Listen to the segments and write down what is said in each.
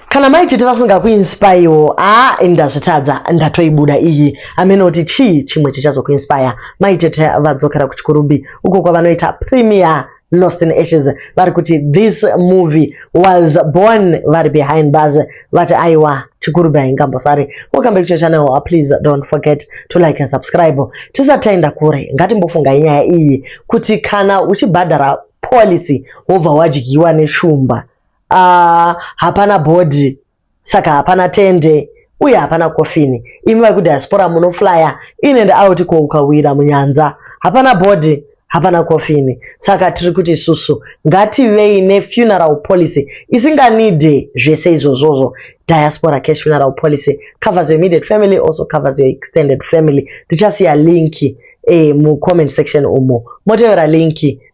kana mai tete vasingakuinspirewo a ini ndazvitadza ndatoibuda iyi amene kuti chii chimwe chichazokuinspire mai tete vadzokera kuchikurumbi uko kwavanoita premier lost in ashes vari kuti this movie was born vari behind bars vati aiwa chikurumbi haingambosari welcome back to channel please don't forget to like and subscribe tisati taenda kure ngatimbofunga inyaya iyi kuti kana uchibhadhara policy wobva wadyiwa neshumba Aah hapana body saka hapana tende uye hapana coffin imi veku diaspora muno flyer in and out ko ukawira munyanza hapana body hapana coffin saka tiri kuti isusu ngativei ne funeral policy isinga need zvese izvozvozvo diaspora cash funeral policy covers your immediate family also covers your extended family tichasiya link eh, mu comment section umo motevera link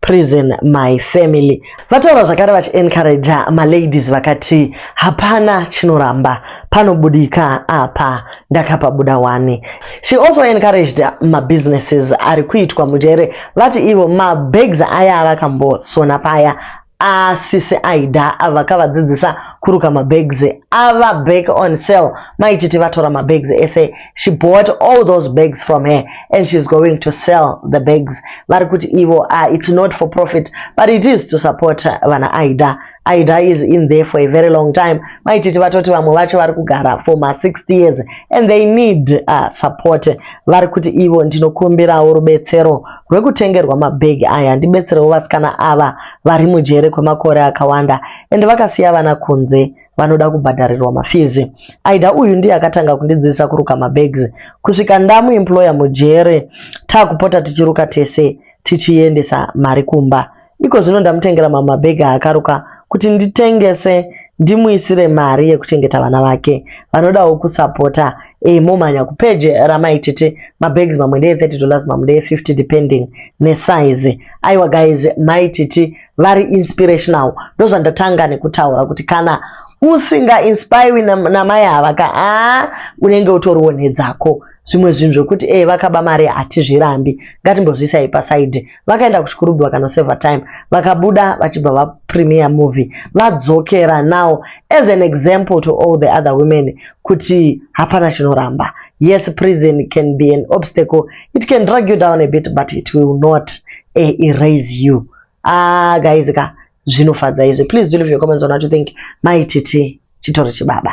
prison my family vataura zvakare vachiencouraja maladies vakati hapana chinoramba panobudika apa ndakapabuda wani she also encouraged mabusinesses ari kuitwa mujere vati ivo mabags aya avakambosona paya asisi aida avakavadzidzisa kuruka mabags ava back on sale maititi vatora mabags ese she bought all those bags from her and she's going to sell the bags vari kuti ivo uh, it's not for profit but it is to support vana aida aida is in there for a very long time maititi vatoti vamwe vacho vari kugara for ma 60 years and they need uh, support vari kuti ivo ndinokumbirawo rubetsero rwekutengerwa mabhegi aya ndibetserewo vasikana ava vari mujere kwemakore akawanda and vakasiya vana kunze vanoda kubhadharirwa mafees aida uyu ndiye akatanga kundidzidzisa kuruka mabags kusvika ndamu employer mujere takupota tichiruka tese tichiendesa mari kumba iko zvino ndamutengera mamwe mabhegi aakaruka kuti nditengese ndimuisire mari yekuchengeta vana vake vanodawo kusapota e, momhanya kupeje ramai tete mabags mamwe ndeye 30 dollars mamwe ndeye 50 depending nesize aiwa guys mai titi vari inspirational ndozvandatanga nekutaura kuti kana usinga inspirwi namai ava ka a unenge utoriwo nhedzako zvimwe zvinhu zvekuti e vakaba mari hatizvirambi ngatimbozviisai pasaidi vakaenda kuchikurubhi vakanoseva time vakabuda vachibva vapremier movie vadzokera now as an example to all the other women kuti hapana chinoramba yes prison can be an obstacle it can drag you down a bit but it will not eh, erase you ah guys ka zvinofadza izvi please do leave your comments on what you think mai titi chitori chibaba